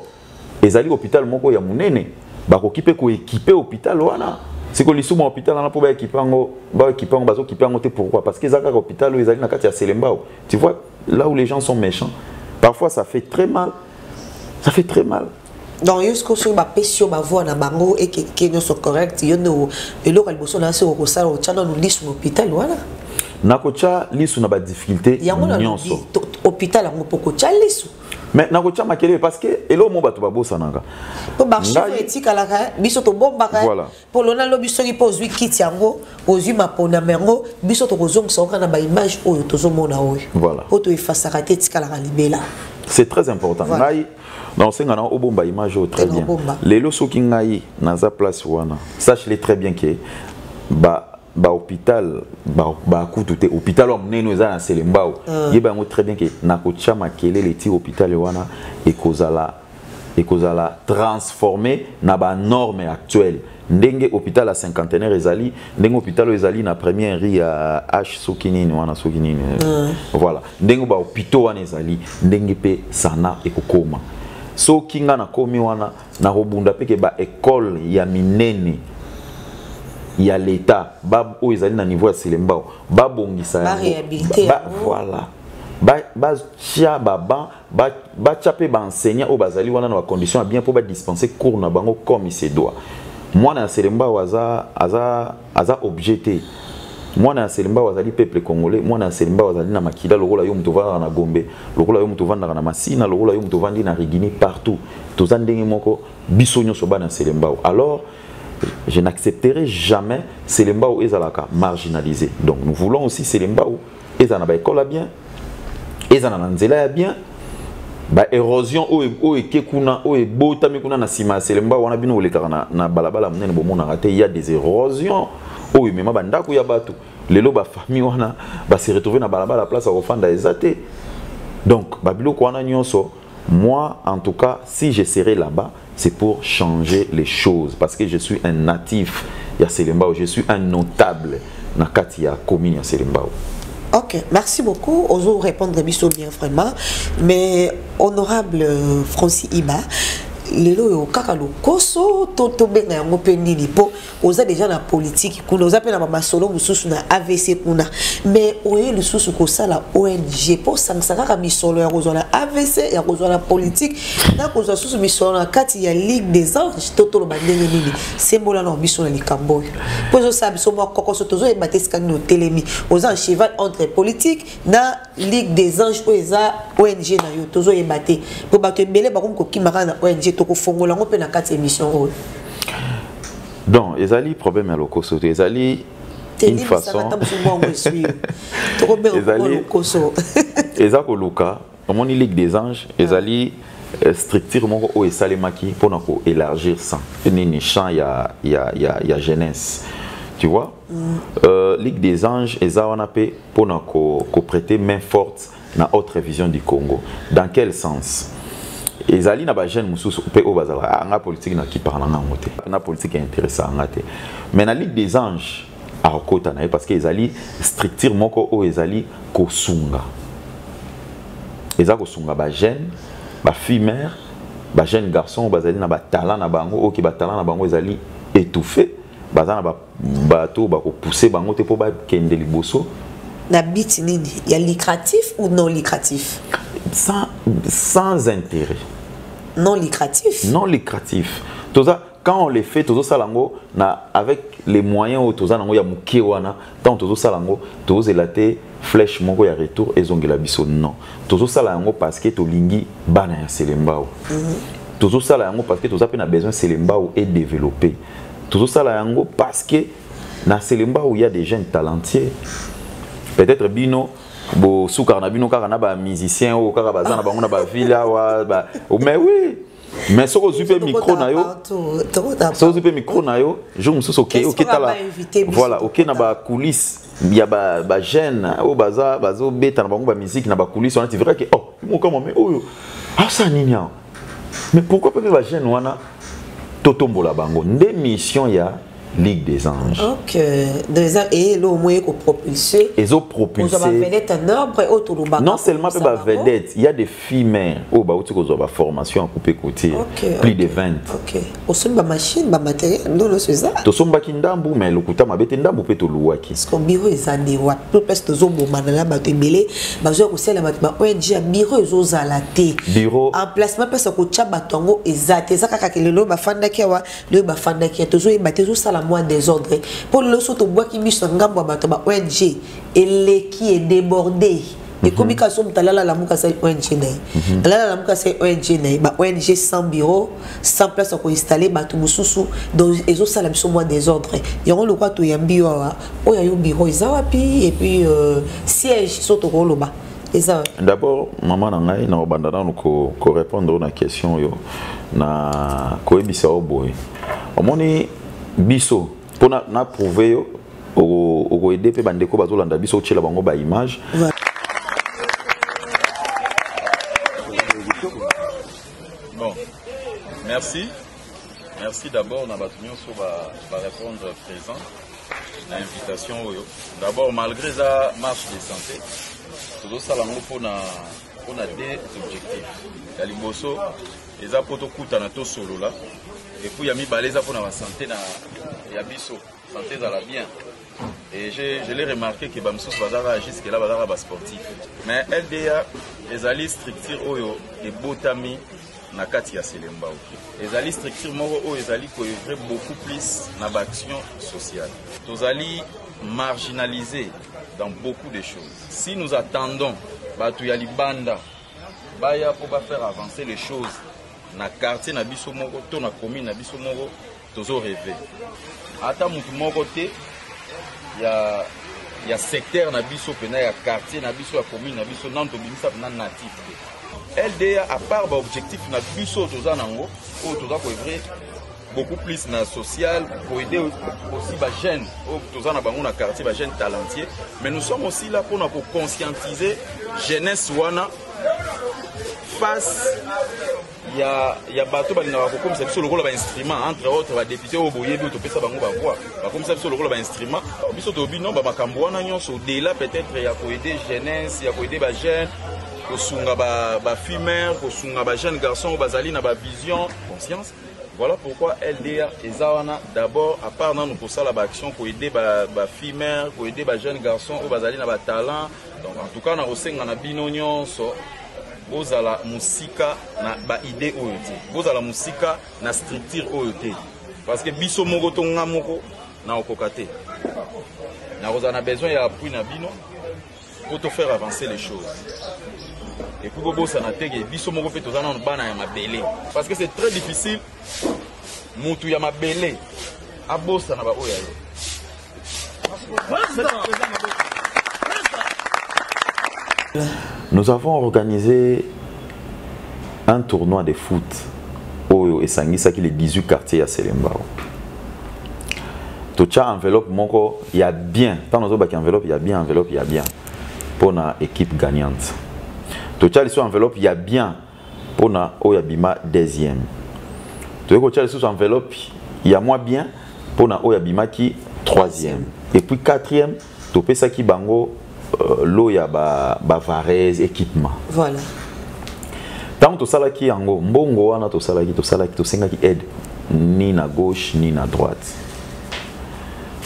ezali hôpital moko ya munene bakoki pe ko équiper hôpital wana siko lisuma hôpital wana po ba équiper yango ba équiper yango bazo équiper yango te pourquoi parce que eza kaka hôpital oyo ezali na kati ya Selembao tu vois là où les gens sont méchants parfois ça fait très mal ça fait très mal donc yo sikoyo soki bapesi yo bavoi na bango ekeke nyonso correct yo nde eloko ya liboso na se okosala otya nanu lisu na hôpital wana nakotya lisu na badifficulté nyonso hôpital yango mpo kotya lisu mais nakotya makelele parce que eloko mo bato babosanaka mpo baarchive etikalaka eh, biso tobombaka eh. voilà. polo na lobi soki mpo ozwi kiti yango ozwi maponama yango biso tokozongisa oka na baimage oyo tozomona oyo voilà. mpo toefasaka te etikalaka libela c'est très important voilà. ngai naosenga na obomba image oyo très bien lelo soki ngai naza place wana sache le très bien ke ba ba hôpital ba ba kutu te hôpital wa munene eza na Selembao mm. yeba yango très bien que na ko tia makelele ti hôpital wana ekozala ekozala transformé na ba normes actuelles ndenge hôpital ya cinquantenaire ezali ndenge hôpital ezali na première rue ya h soki nini wana soki nini mm. voilà ndenge ba hôpitaux wana ezali ndenge pe sana ekokoma soki nga nakomi wana na kobunda mpe ke baekole ya minene ya leta oyo ezali na niveau ya selembao babongisa voilà batya baban batya mpe baenseignant oyo bazali wana na bacondition ya bien mpo badispense cours na bango comme se doit mwana ya selembao aza aza aza objet te mwana ya selimbao azali peuple congolais mwana ya selimbao azali na makila lokola yo moto ovandaka na gombe lokola yo moto ovandaka na masina lokola yo moto ovandi na rigini partout toza ndenge moko biso nyonso bana ya selimbao alors je n'accepterai jamais selimbao ezalaka marginalisé donc nous voulons aussi selimbao ezala na baekole ya bien ezala na nzela ya bien baérosion oyo oyo eke kuna oyo ebotami kuna na nsima ya selemba wana bino olekaka na, na balabala monene bomonaka te ya des érosions oyo emema bandako ya bato lelo bafamille wana base retrouve na balabala place ya kofanda eza te donc babiloko wana nyonso Moi, en tout cas, si je serai là-bas, c'est pour changer les choses. Parce que je suis un natif ya Selembao. Je suis un notable na kati ya commune ya Selembao. Ok, merci beaucoup. Ozo répondre biso bien vraiment. Mais honorable euh, Francis Iba, lelo yo kaka lokoso to tobenga yango mpe nini mpo oza deja na politiki kuna oza mpe na bamasolo mosusu na avc kuna mais oye lisusu kosala ong mpo osangisa kaka misolo ya kozwa na avc ya kozwa na politiki na kozwa susu misolo na kati ya ligue des anges to toloba ndenge nini sembola na biso na likambo oyo mpo ezosala biso mwa kokoso tozoyeba te esika nini otelemi oza en cheval entre politiki na ligue des anges oyo eza ong na yo tozoyeba te mpo bato ebele bakomi kokima kaka na ong tokofongola yango mpe na kati ya émission oyo donc ezali problème ya lokoso te ezali une façon ezali eza koluka omoni ligue des anges ah. ezali euh, structure moko oyo esalemaki mpona koélargir sans nini champ ya, ya, ya, ya jeunesse tu vois Mm. Euh, Ligue des Anges et Zawanapé pour nous prêter main forte dans autre vision du Congo. Dans quel sens ezali na bajeune mosusu mpe oyo bazalaka ah, anga politike na kipaka na ngango te na politike interesa anga te mais na ligue des anges akokota na ye parce que ezali structure moko oyo ezali kosunga eza kosunga bajeune bafille mare bajeune garçon oyo bazali na batalent na bango oyo ke batalent na bango ezali étouffé baza na bato bakopuse bango te mpo bakende liboso na bit nini ya lucratif ou non lucratif sans, sans intérêt non lucratif non lucratif toza quand on le fait tozosala yango na avec les moyens oyo toza nango ya moke wana ntango tozosala yango tozozela te flèche moko ya retour ezongela biso non tozosala yango parce que tolingi bana ya selembao mm -hmm. tozosala yango parce que toza mpe na besoin selembao edéveloppe tozosala yango parce que na selembao ya des jeunes talentueux peut-être bino bosukaka na bino kaka na bamusicien oyo kaka baza na bango na baville awa mais oui mais soki ozwi mpe micro na yo soki ozwi mpe micro na yo jour mosusu oke oketala voilà oke na bacoulisse ya bajeune oyo baza bazobeta na bango bamiziki na bacoulisse wana ti verra ke oh mokama me oyo asala nini awa mais pourquoi pas ba jeune wana totombola bango nde mission ya ligue des anges ok des anges et lo moye ko propulser ezo propulser ba vedette en ordre et auto lobaka non seulement pe ba vedette il y a des filles mais oh ba uti ko zo ba formation à couper côté okay, plus okay, de 20 ok osombi ba machine ba matériel ndo nyonso eza tosombaki ndambu mais lokuta mabe te ndambu mpe toluwaki parceke biro eza nde wapi mpe place tozobomana na bato ebele bazoya kosalela bato ba ong ya biro ezozala te biro emplacement place ya kotya bato yango eza te eza kaka ke lelo bafandaki awa lelo bafandaki ya tozoyeba te ezosala mwa desordre mpo lelo so tobwaki miso ya ngambo ya bato ba ong eleki edeborde Mhm. ekomi kaka soki moto alala lamuka asali ong na ye mhm. alala lamuka asali ong na ye ba ong sans bureau sans place ya koinstalle bato mosusu donc ezosala biso mwa désordre yango lokwa toyambi yo awa oyo ayo bureau eza wapi epuis euh, siège so tokoloba eza wapi d'abord mama na ngai nakobanda nano korépondre oyo na question oyo na koyebisa yo boye omoni biso mpo na prouve yo okoede mpe bandeko bazolanda biso otyela bango baimage bon merci merci d'abord na bato nyonso barépondre présent na invitation oyo d'abord malgré eza marche de santé tozosala yango mpo na deux objectifs ya liboso eza mpo tokutana tosolola epuis ya mibale eza mpo na basante na ya biso sante ezala bien et je, je l'ai remarqué ke bamosusu bazalaka jusque là bazalaka basportif mais lda ezali structure oyo ebotami na kati ya selembao ezali structure moko oyo ezali koevre beaucoup plus na baaction sociale tozali marginalisé dans beaucoup de choses si nous attendons bato ya libanda baya mpo ba faire avancer les choses na quartier na biso moko to na commune na biso moko tozo reve ata motu moko te ya ya secteur na biso mpena ya quartier na biso ya commune na biso nano tobimisa mpena natif te lda apart baobjectif na biso oyo toza nango oyo toza koevre beaucoup plus na social pour aider aussi ba jeunes oyo toza na bango na quartier ba jeunes talentueux mais nous sommes aussi là mpona koconscientiser jeunesse wana face ya, ya bato balingaka kokomisa biso lokola bainstrument entre autres badepute oyo boyebi oyo topesa bango bavoi bakomisa biso lokola bainstrument biso toyebi non bamakambo wana nyonso odela peut-être ya koede jeunesse ya koede bajeune kosunga bafumeur ba kosunga bajeune garçon oyo bazali na bavision conscience Voilà pourquoi LDA eza wana d'abord à part nanu kosala ba action ko aider ba ba filles mères ko aider ba jeunes garçons oyo bazali na ba talents donc en tout cas na kosenga na bino nyonso bozala musika na ba idée oyo te bozala musika na structure oyo te parce que biso moko to nga moko na okoka te na kozala na besoin ya appui na bino Pour te faire avancer les choses. Et puis bobosana te ke biso moko mpe toza nano bana ya mabele. Parce que c'est très difficile mutu ya mabele abosana ba oyo ya yo. Nous avons organisé un tournoi de foot oyo esangisaki les 18 quartiers ya selembao totya enveloppe moko ya bien ntango nazobaki enveloppe ya bien enveloppe ya bien mpo na équipe gagnante totya lisusu enveloppe ya bien mpo na oyo abima deuxième toyei kotya lisusu enveloppe ya mwa bien mpo na oyo abimaki troisième et puis quatrième topesaki bango euh, lot ya ba, ba varese équipement voilà ntango tosalaki yango mbongo wana tosalaki tosalaki tosengaki aide ni na gauche ni na droite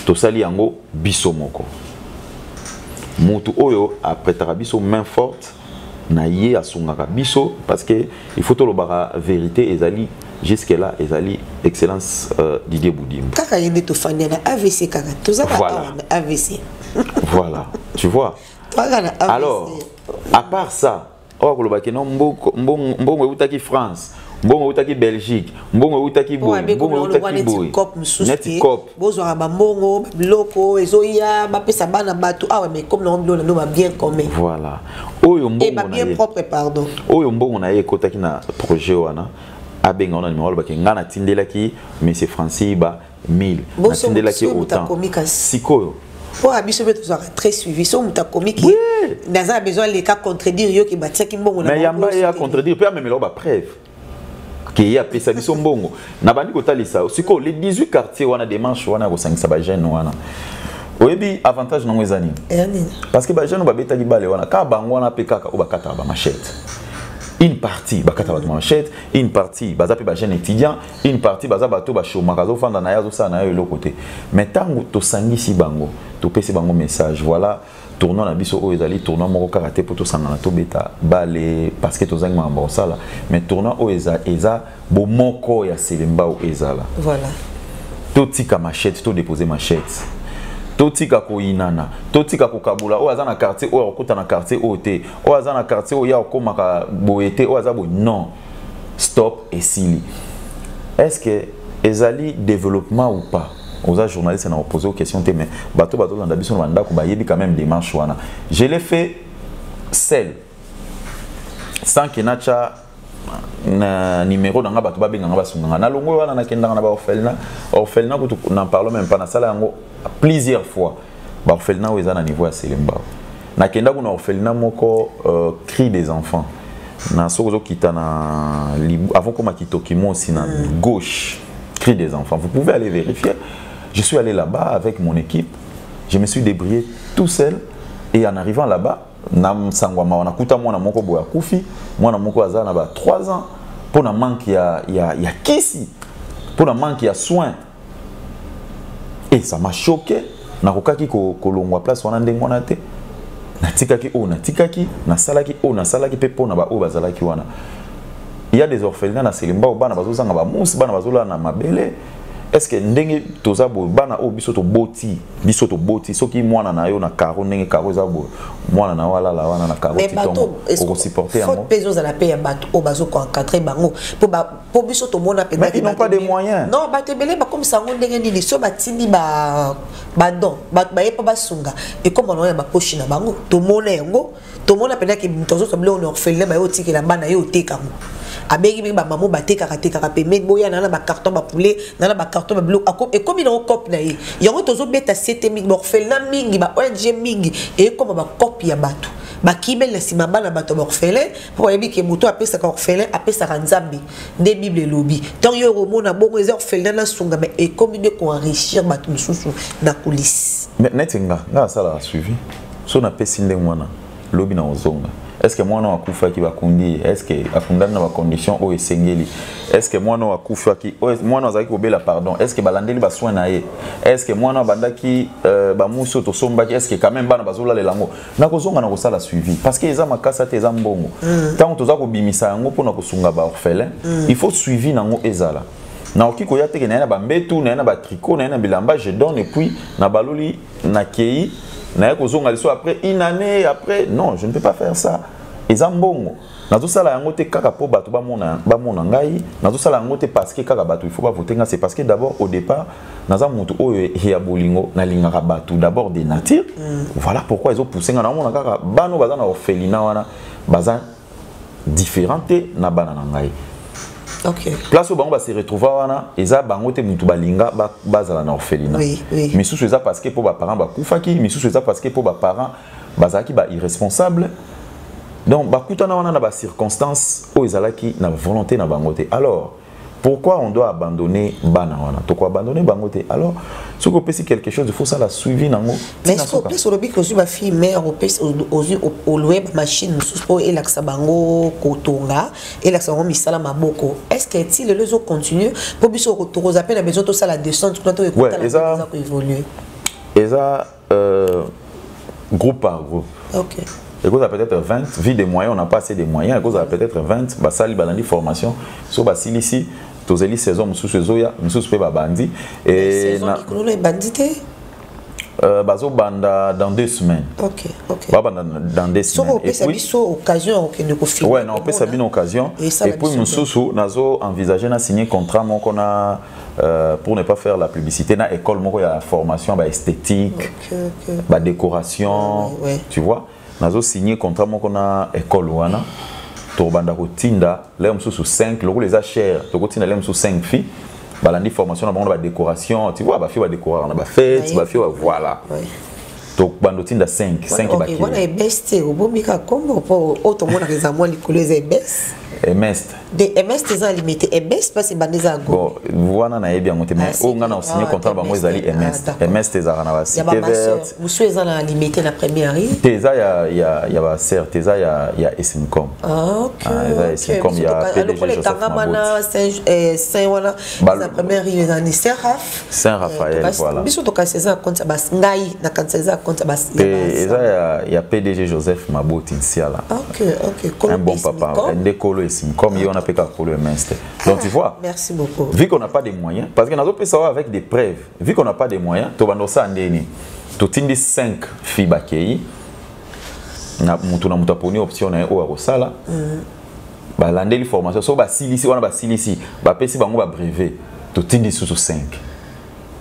tosali yango biso moko motu oyo apretaka biso main forte na ye asungaka biso parce que il faut tolobaka vérité ezali jusque là ezali excellence euh, Didier Boudimbo kaka ye nde tofandi na AVC kaka toza kaka voilà. awa na AVC voilà tu vois toza na AVC alors à part ça oyo akoloba ke no mbongo, mbongo, mbongo eutaki France mbongo eutaki belgique mbongo eutaki boye mbongo eutaki boye neti cop bozwaka bambongo babiloko ezoya bapesa bana bato awa mais comme nango biloko nano babien commun voilà oyo mbongobabien eh, propre pardon oyo mbongo na ye ekotaki na projet wana abenga wana nimero alobaki ngai natindelaki monsieur francis ba 1000 natindelaki autant sikoyo mpo ya biso mpe tozwaka très suivi so moto akomi ki naza na besoin aleka contredire yo ke batiaki mbongo na yamba ye acontredire mpe amemela yo bapreuve keye apesa biso mbongo nabandi kotalisa sikoyo le 18 quartier wana demarche wana ya kosangisa bajeune wana oyebi avantage nango eza nini parce que bajeune babetaki bale wana kaka bango wana mpe kaka oyo bakataka bamachete une partie bakata bato manchete une partie baza mpe bajeune étudiant une partie baza bato bashomaka azofanda na ye azosala na ye eloko te mais ntango tosangisi bango topesi bango message voilà tournoi na biso oyo ezali tournoi moko kaka te mpo tosangana tobeta bale parceke tozangi makambo ya kosala mais tournoi oyo eza, eza bomoko ya selembao ezala voilà. totika machete todepose machete totika koyinana totika kokabola oyo aza na quartier oyo akokota na quartier oyo te oyo aza na quartier oyo ya kokomaka boye te oyo aza boye non stop esili est ce que ezali développement ou pas oza journaliste na opposé aux questions te mais bato bazolanda biso na bandako bayebi quand même démarche wana je l'ai fait seul sans que nacha na numéro na nga bato babenga nga basunga nga nalongo wana nakendaka na baorphelina orphelina kutu na parle même pas nasala yango plusieurs fois baorphelina oyo eza na niveau ya selembao nakenda kuna orphelina moko euh, cri des enfants na soki ozokita na avant koma kitoki mosi na mm. gauche cri des enfants vous pouvez aller vérifier je suis allé là-bas avec mon équipe je me suis débrouillé tout seul et en arrivant là-bas na nsango ya mawa nakuta mwana moko boye akufi mwana moko aza na ba 3 ans mpo na manque ya, ya, ya kisi mpo na manque ya soin et ça m'a choqué nakokaki kolongwa place wana ndenge wana te natikaki oyo natikaki nasalaki oyo nasalaki mpe mpo na baoyo bazalaki wana ya des orphelina na selemba oyo bana bazozanga bamusi bana bazolala na mabele estce ndenge toza boye bana oyo biso toboti biso toboti soki mwana na yo na caro ndenge caro eza boye mwana na yo alala wana na caro titongo okosupporte yango mpe ezozala mpe ya bato oyo bazokoencadre bango mpo mpo biso tomona mais ils n'ont pas de moyens non bato ebele bakomisa yango ndenge nini so batindi badon bato baye mpo basunga ekoma nango ya baposhi na bango tomona yango tomona mpenza ke moto azozwa biloko na orphelina baye otikela bana ye oteka yango abengi mingi bamamo batekaka tekaka pembeni boya na na bacarton bapoulet na na bacarton babiloko ekomi nango cope na ye yango tozobeta sete mingi baorphelina mingi ba ong mingi ekoma bacope ya bato bakimeli na nsima bana bato ya baorphelin mpo ayebi ke moto apesaka orphelin apesaka nzambe nde bible elobi ntango yo okomona bongo eza orphelin nasunga mai ekomi nde koenrichir bato mosusu na kulisi neti nga nga nasalaka suivi so napesi ndenge mwana lobi na kozonga est ce que mwana oyo akufaki bakundi ye est ce que akundani na bacondition oyo esengeli est ce que mwana oyo akufaki mwana oyo azalaki kobela pardon est ce que balandeli basoin na ye est ce que mwana oyo abandaki euh, bamusi oyo tosombaki est ce que quand même bana bazolalela yango nakozonga na kosala suivi parce que eza makasa te eza mbongo mm. ntango mm. toza kobimisa yango mpona kosunga baorphelin mm. il faut suivi na yango ezala nakoki koya teke naye na bambetu naye na batricot naye na bilamba je donne epuis nabaloli nakei naye kozonga liso après une année après non je ne peux pas faire ça eza mbongo nazosala yango te kaka mpo bato bamona, bamona ngai nazosala yango te parceke kaka bato il faut bavote ngai c'est parce que d'abord au départ naza motu oyo ya bolingo nalingaka bato d'abord de nature mm. voilà pourquoi ezopousse ngai naomona kaka bana oyo baza na orphelina wana baza différent te na bana na ngai okay. place oyo bango base retrouva wana eza bango te motu balinga bazala na orphelina oui, oui. misusu eza parceke mpo baparent bakufaki misusu eza parceke mpo baparent bazalaki ba irresponsable donc bakutana wana na ba circonstances oyo ezalaki na volonté na bango te alors pourquoi on doit abandonner bana wana toko abandonner bango te alors soki opesi quelque chose il faut sala suivi nango mais soki opesi olobi ke ozwi bafille mare opesi ozwi oloye bamachine mosusu mpo elakisa bango kotonga elakisa bango misala maboko est ce que ti lelo ezocontinue mpo biso tokoza mpe na besoin tosala descente kuna toekotala koévolue eza euh, groupe par groupe okay. ekozala peut-être 20 vie de moyen on n'a pas assez de moyens ekozala peut-être 20 basali balandi formation so basilisi tozeli saison mosusu ezoya mosusu mpe babandi ebandi te Euh, bazobanda dans deux semaines Ok, ok. babanda dans deux semaines soki opesa biso occasion ya kokende kofilme ouais, na opesa bino occasion et puis mosusu nazo envisage na signe contrat moko na Euh, pour ne pas faire la publicité, dans l'école, il y a la formation bah, esthétique, okay, okay. Bah, décoration, ouais, ouais. tu vois. Nous signé contrat avec l'école. tobanda kotinda lelo mosusu 5 lokola eza cher tokotinda lelo mosusu 5 filles balandi formation na bango na badécoration tu vois bafille badécoraka na bafete bafille voilà tokbanda otinda 5 5 bakiliwana ebeste obomika kombo mpo oyo tomonaka eza mwa likolo eza ebese emeste de ms te eza limite ms mpasi ebanda eza bon wana nayebi yango te mais ah, oyo ngai na osigne ah, contrat bango ezali ms ah, ms te ezalaka na bacité verte mosusu eza na limite na première rue te eza ya baser te eza ya esmcom eza ya esmcom ya pdg joseph mabot wana eza première rue eza ni seraf saint raphaël euh, voilà biso tokanisa eza na konti ya basi ngai nakanisa eza na konti ya basi eza ya, ya pdg joseph maboti nsiala okay, okay. Kolo un bon papa nde kolo esim comme ye wana mpe kaka kolo ya minste donc tu ah, vois merci beaucoup vu qu'on n'a pas de moyens parce que nazopesa oyo avec des preuves vu qu'on n'a pas de moyens tobanda osala ndenge nini totindi 5 fille bakei na motu na motu aponi option na ye oyo akosala mm. balandeli formation so basilisi wana basilisi bapesi bango ba brevet totindi susu 5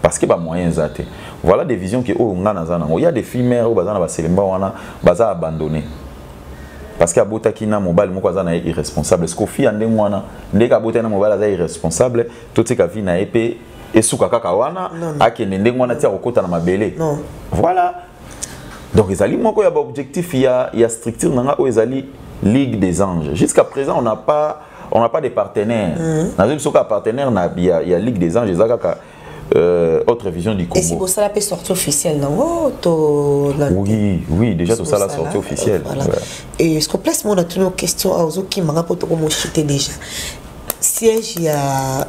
parce que ba moyen eza te voilà des visions que oyo nga naza nango ya des filles mère oyo baza na baselemba wana baza abandonné parce que abotaki na mobali moko aza na ye irresponsable siko fille ya ndenge wana ndenge abotaki na mobali aza irresponsable totika vie na ye mpe esuka kaka wana akende ndenge wana ti akokota na mabele voilà donc ezali moko ya baobjectif ya, ya structure na ngai oyo ezali ligue des anges jusqu'à présent on n'a pas on n'a pas de partenaire mm. nazoyebi soki apartenaire na ya, ya ligue des anges eza kaka euh, autre vision du Congo. Et si vous avez sortie officielle, non oh, to, la... Oui, oui, déjà tout ça la sortie officielle. Voilà. Ouais. Et ce qu'on place, moi, on a toujours une question à Ozo qui m'a rapporté au mot déjà. Siège, il y a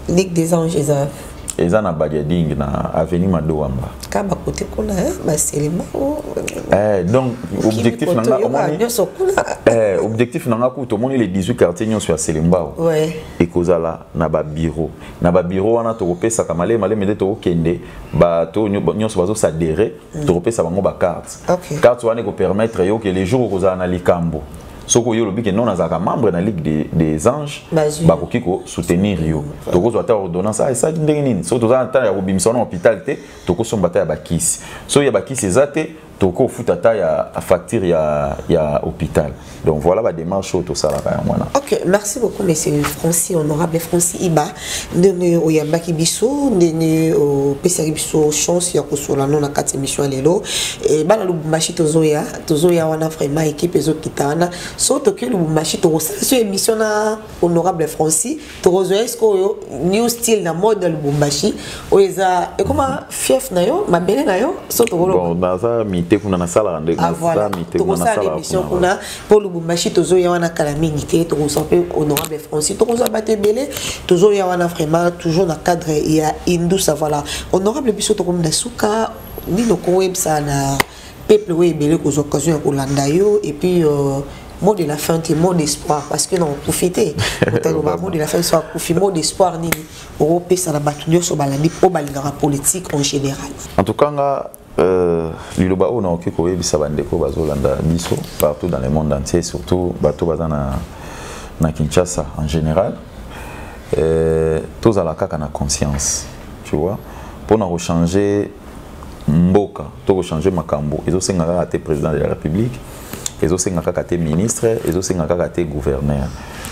Ligue des Anges eza eza na Badiading na avenue Madouamba. Kaba kote kuna hein, ba selema. Oh. Eh donc objectif nanga omoni. Eh objectif nanga kuto omoni les 18 quartiers nyonso ya Selembao. Ouais. Ekozala na ba bureau. Na ba bureau wana tokopesa kamale male mede tokokende ba to nyonso bazo s'adhérer, mm. tokopesa bango ba cartes. Okay. Carte wana ko permettre yo que les jours okozala na likambo. soko yo olobi ke non nazalaka membre na ligue des, des anges bakoki kosoutenir yo tokozwa ata ordonnance ah esalaki ndenge nini soki toza na ntango ya kobimisa wana hôpital te tokosomba ata ya bakisi soki ya bakisi eza te toko futa ta ya facture ya ya hôpital donc voilà ba démarche oyo tosalaka yango wana ok merci beaucoup monsieur francis honorable francis iba ndenge oyambaki biso ndenge opesaki biso chance ya kosola no na kati émission ya lelo bana lubumbashi tozoya tozoya wana vraiment équipe ezokita wana so toki lubumbashi tokosala so émission na honorable franci tokozwa ye sikoyo new style na mode ya lubumbashi oyo eza ekoma fief na yo mabele na yo so tokolonaza mite kuna nasalaka ndetokosala ah, émission kuna mpo lubumbashi tozoya wana kala mingi te tokozwa mpe honorable franci tokozwa bato ebele tozoya wana vraiment toujours na cadre ya indusa voilà honorable biso tokomi na suka nini okoyebisa na peuple oyo ebele kozwa occasion ya kolanda yo et puis euh, mot de la fin te mot d'espoir parce que na okufi te otaloba mot de la fin so akufi mot d'espoir nini okopesa na bato nyonso balandi mpo balingaka politique en général en tout cas nga Euh, liloba oyo nakoki koyebisa bandeko bazolanda biso partout dans le monde entier surtout bato baza na, na kinshasa en général euh, tozala kaka na conscience tu vois mpo na kochange mboka to ko changer makambo ezo senga kaka te président de la république ezo senga kaka te ministre ezo senga kaka te gouverneur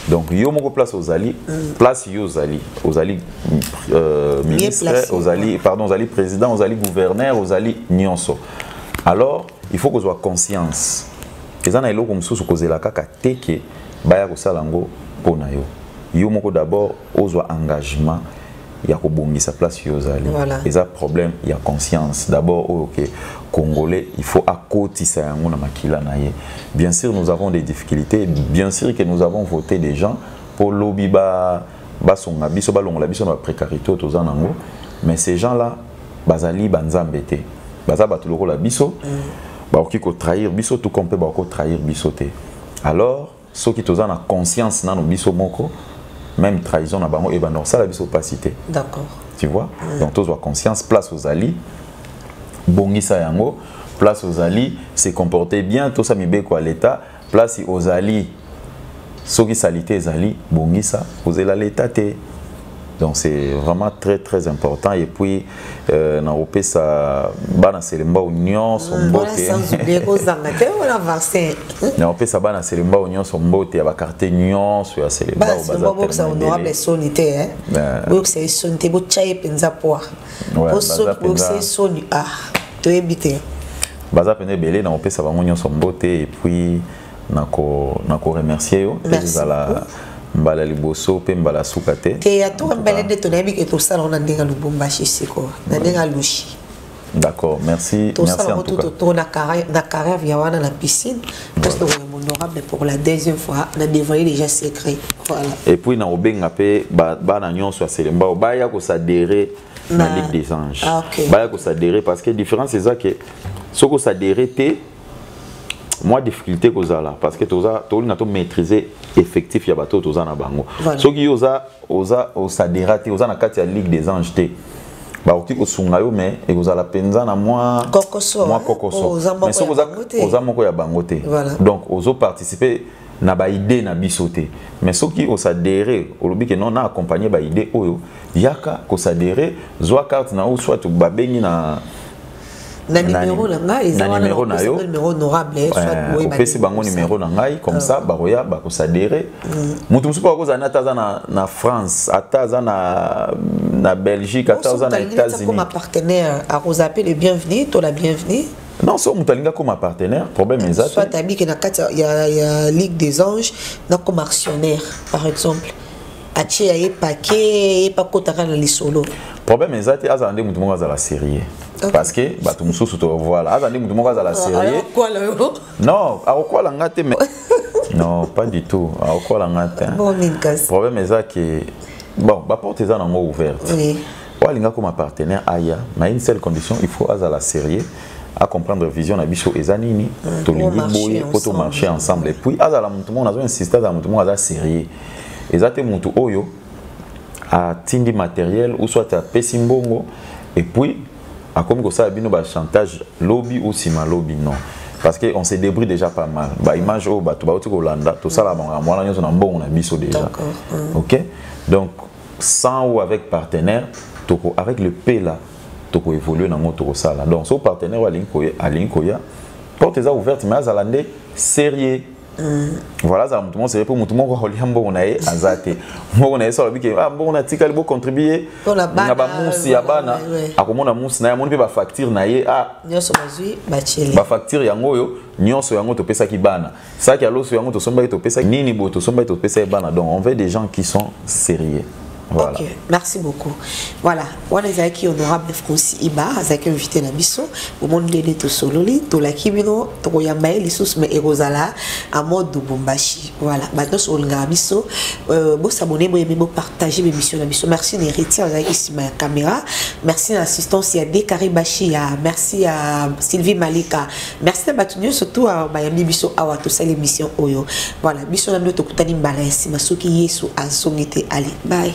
donc yo moko place ozali place yo ozali ozali euh, ministre ozali pardon ozali président ozali gouverneur ozali nyonso alors il faut kozwa conscience eza na eloko mosusu kozela kaka te ke baya kosala yango mpo na yo yo moko d'abord ozwa engagement ya kobongisa place yo ozali voilà. eza problème ya conscience d'abord oyo ke congolais il faut akotisa yango na makila na ye bien sûr nous avons des difficultés bien sûr que nous avons voté des gens mpo lobi basonga biso balongola biso na baprécarité oyo toza nango mais ces gens là bazali banzambe te baza bato lokola biso mm. bakoki kotrahir biso tout comme mpe bakoki kotrahir biso te alors soki toza na conscience nano biso moko même trahison na bango ebanda kosala biso mpasi te d'accord tu vois mm. donc tozwa conscience place ozali bongisa yango place ozali se comporter bien tosa mibeko ya leta place ozali soki salite ezali bongisa kozela leta te Donc c'est vraiment très très important et puis euh, na opesa bana selemba union son ah, mbote. Voilà sans oublier ko zanga te wala vaccin. Na opesa bana selemba union son mbote ya ba quartier union so ya selemba ba za. Ba boksa honorable soni te hein. Euh. Boksa soni te bo chaye penza poa. Bo so boksa soni ah. To ebite. Baza pende belé na opesa bango union son mbote et puis na ko remercier yo ezala mbala liboso mpe mbala suka te te ya toka mbele nde tonayebi ke tosala ona ndenge ya lubumbashi sikoyo na ndenge ya lushi d'accord merci tosala ngo tuto to na carrière ya wana na piscine parce que oyo honorable pour la deuxième fois na dévoiler déjà secret voilà et puis na obenga mpe bana nyonso ya selembao baya kosadere na ligue des anges ah, baya kosadere parce que différence eza ke soki osadere te mwa difficulté kozala parce que toza tolinga to maîtriser effectif ya bato oyo toza na bango voilà. soki yo oza oza osadera te oza na kati ya ligue des anges te bakoki kosunga yo mais ekozala mpenza na mwa kokoso mwa kokoso oh, mais soki oza, oza moko ya bango te voilà. donc ozo participer na baide na biso te mais soki osadere olobi ke non na accompagne baide oyo yaka kosadere zwa carte na yo soit babengi na na numéro na ngai eza wana numéro na yo numéro honorable eh, soit eh, boye opesi bango numéro na ngai comme ah. ça bakoya bakosadere mm. moto mosusu bakozala na ata aza na, na france ata aza na, na belgique ata aza na états-unis comme partenaire akozala mpe le bienvenu to la bienvenue non soki moto alingi akoma partenaire problème eza te soit abiki na kati ya, ya ligue des anges nakoma actionnaire par exemple atie ya ye pake ye mpe akotaka na lisolo problème eza te azala nde moto moko azala sérieux parce que bato mosusu to voilà azala nde moto moko azala sérieux non akokwala nga te mais non pas du tout akokwala nga te problème eza ke bon baporte eza nango ouverte oui. oyo alinga koma partenaire aya mais une seule condition il faut azala sérieux à comprendre vision na biso eza nini mm. tolingi boye po to marcher ensemble et puis azala moto moko nazo insiste azala moto moko aza sérieux eza te mutu oyo atindi matériel ou soit apesi mbongo et puis akomi kosala bino ba chantage lobi ou sima lobi non parce qu'on se débrouille déjà pas mal ba image oyo bato bauti kolanda tosala makambo wana nyonso na mbongo na biso déjà mm. ok donc sans ou avec partenaire toko avec le p là toko évoluer nango tokosala donc so partenaire oyo alingi koya porte eza ouverte mais azala nde sérieux voilà azala motu moko sere mpo motu moko akolia mbongo na ye aza te mbongo na ye so alobi ke ah, mbongo natikali bocontribue na bamusi ya bana akomona musi na ye amoni mpe bafacture na ye ah, bafacture yango oyo nyonso yango topesaki bana saki ya loso yango tosombaki topesaki nini boye tosombaki topesaki bana donc on veut des gens qui sont sérieux Voilà. Ok, merci beaucoup. Voilà, wana ezalaki honorable Francis Iba, azalaki invité na biso. Omoni ndenge tosololi, tolaki bino, tokoyamba ye lisusu mais ekozala en mode Lubumbashi. Voilà, bato nyonso olingaka biso, euh, bosabone, boyeme, bopartage b'emission na biso. Merci na héritier azalaki nsima ya caméra. Merci na assistance ya Dekari Bashia. Merci à Sylvie Malika. merci na bato nyonso tu awa bayambi biso awa tosali émission oyo voilà biso na bino tokutani mbala ya nsima soki yesu azongi te ale bye